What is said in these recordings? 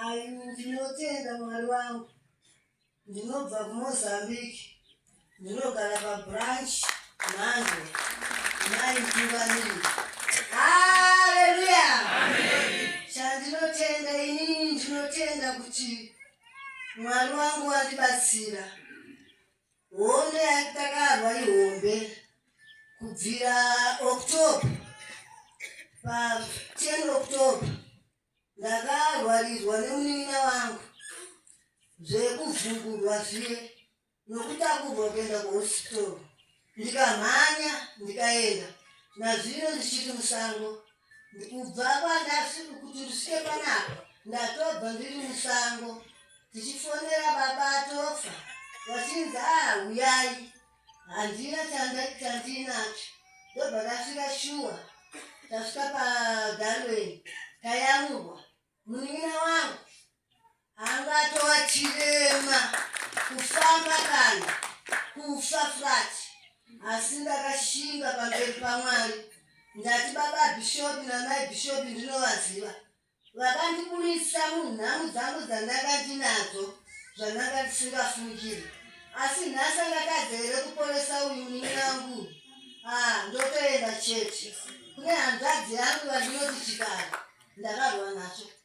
Ayi, ndinotenda Mwari wangu. Ndinobva kuMozambique. Ndinogara pabranch Mhandu. Mai Mpivanini. Haleluya! Chandinotenda inini ndinotenda kuti Mwari wangu wandibatsira. Hondo yaive takarwa ihombe kubvira October pa 10 October ndakarwarirwa nemunin'ina wangu zvekuvhungurwa zviye nokutakurwa kuenda kuhospital ndikamhanya ndikaenda nazvino ndichiri musango Kubva kwandasvika kuti ndisvike panapa ndatobva ndiri musango tichifonera baba atofa vachinzi aa huyai handina chandinacho ndobva ndasvika shuwa tasvika pagarweni tayamurwa munin'ina wangu angatova chirema kufamba kana kufa flat asi ndakashinga pamberi pamwari ndati baba bhishopi namai bhishopi ndinovaziva vakandiburitsa munhamu dzangu dzandanga ndinadzo zvandanga ndisingafungiri asi nhasi angatadze here kuporesa uyu ninangu ah, ndotoenda chete kune hanzvadzi yangu vandinoti chikara ndakarwa nacho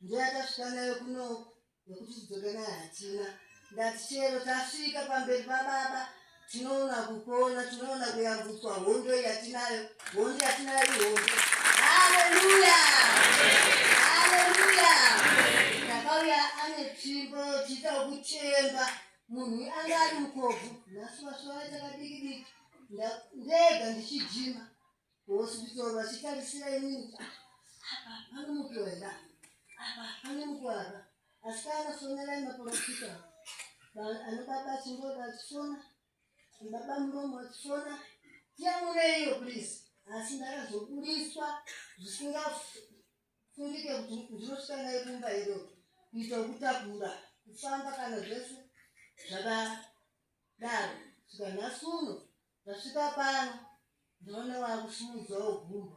ndiye atasvika nayo kunoku nekuti tidzoke nayo hatina ndati chero tasvika pamberi pababa tinoona kupona tinoona kuyambutswa hondo yatinayo hondo yatinayo ihondo haleluya haleluya ndakauya ane tsvimbo tiita kuchemba munhu anga ari mukobvu nhasi vasuva takadikidiki ndega ndichijima Hospital vachitarisira inini kuti apa pane mupiwa here apa pane mupiwa apa asi paakafonera maporofita anobaba achingoda achifona baba muromo achifona tiyamureiyo please asi ndakazobudiswa zvisingafungike kuti ndinosvika naye kumba iro kuita kutakura kufamba kana zvese zvakadaro svikanhasi uno Ndasvika pano ndaona wakusimudzao gumbo.